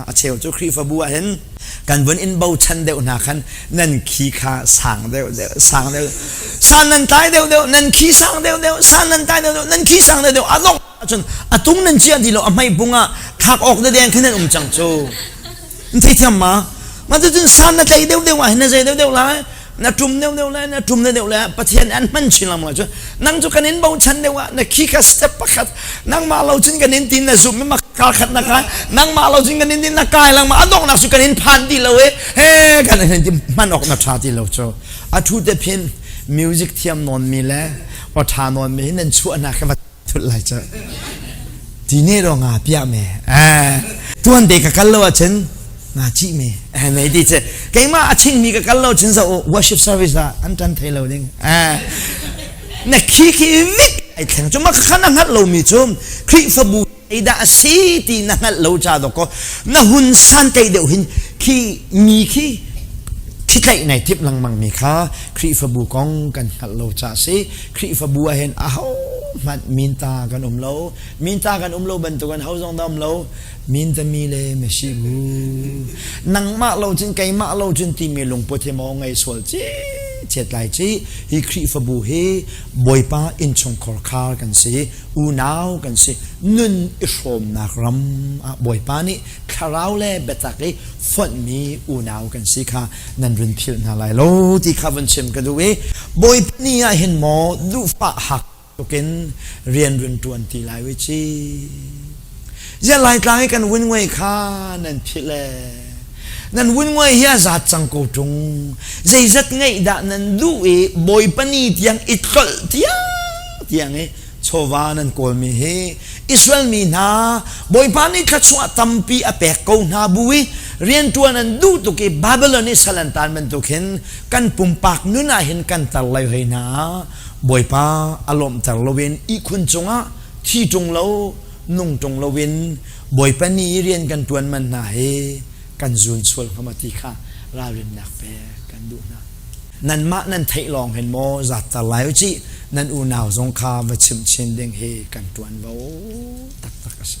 a cheu cu Khrihfabu ah hin kan vun in bochan deuh hna khan nan khi kha sang deuh deuh sang deuh san nan tlai deuh deuh nan khi sang deuh deuh san nan tlai deuh deuh nan khi sang deuh deuh a dongh ahcun a tung nan ciah ti lo a hmei bung ah thak awk de deng khin an um cang cu an thei thiam ma ma tu cun san na tlai deuh deuh ah hin na zei deuh deuh lai na tum deuh deuh le na tum deuh deuh le pathian an hman chin lam cu nang cu kan in bochan deuh ah na khi kha step pakhat nangmah lo cun kan in tin na zum ma ka khat na ka nangmah lo cun kan in tin na kai lang ma adongnak cu kan in phan ti lo e he kan in hman ok na tha ti lo cho a thu te phin music thiam non mi le o tha non mi nan chuah na ka thut lai cu ti ne ro nga pia me eh tuan de ka kal lo a chen nga chi me eh nei di che keima a ching mi ka kal lo chin za worship service da an tan thei lo ding eh na khi khi mit ai thleng chuma ka khana ngat lo mi chu khrihfabu ei da asi ti na ngat lo cha do ko na hun san te deu hin khi mi khi khi tlai nei tip lang mang mi kha khrihfabu kong kan ngat lo cha si Khrihfabu ah hin ahohmanh minta kan um lo minta kan um lo bantukan ho zong dam lo mintami le masi bu nangmah lo cun keimah lo cun timi lungput hi maw ngei sual ci chetlai ci hi khrihfabu hi boipa inchungkhor khar kan si unau kan si nun i hrawmnak ram ah boipa nih thlarau le biatak i fonhmi unau kan si kha nan run philh hna lai lo ti kha vun chim ka duh i bawipa ni ah hin maw duhfa hak tukin rian run tuan ti lai wi ci zian lai tlang i kan wunwai kha nan philh le nan wunwai hi a zat cang ko tung zeizat ngaih dah nan duh i bawipa ni tiang i tlol tiang tiang i chawva nan kawlmi hi Israel mi hna Bawipa nih thla chungah tampi a pek ko hna bu i rianṭuan an duh tuk i Babylon i salantan bantuk hin kan pumpak nun ah hin kan tar lai hlei hna Bawipa a lawmhter loin ihkhun cungah thi ṭung lo nung ṭung loin Bawipa ni i rian kan ṭuan man hna hi kan zun sual hnga ti kha ralrinnak pek kan duh hna nanmah nan theih lawng hin maw zatter lai u cih nan unau zong kha va chim chin ding hi kan tuan vo taktak a si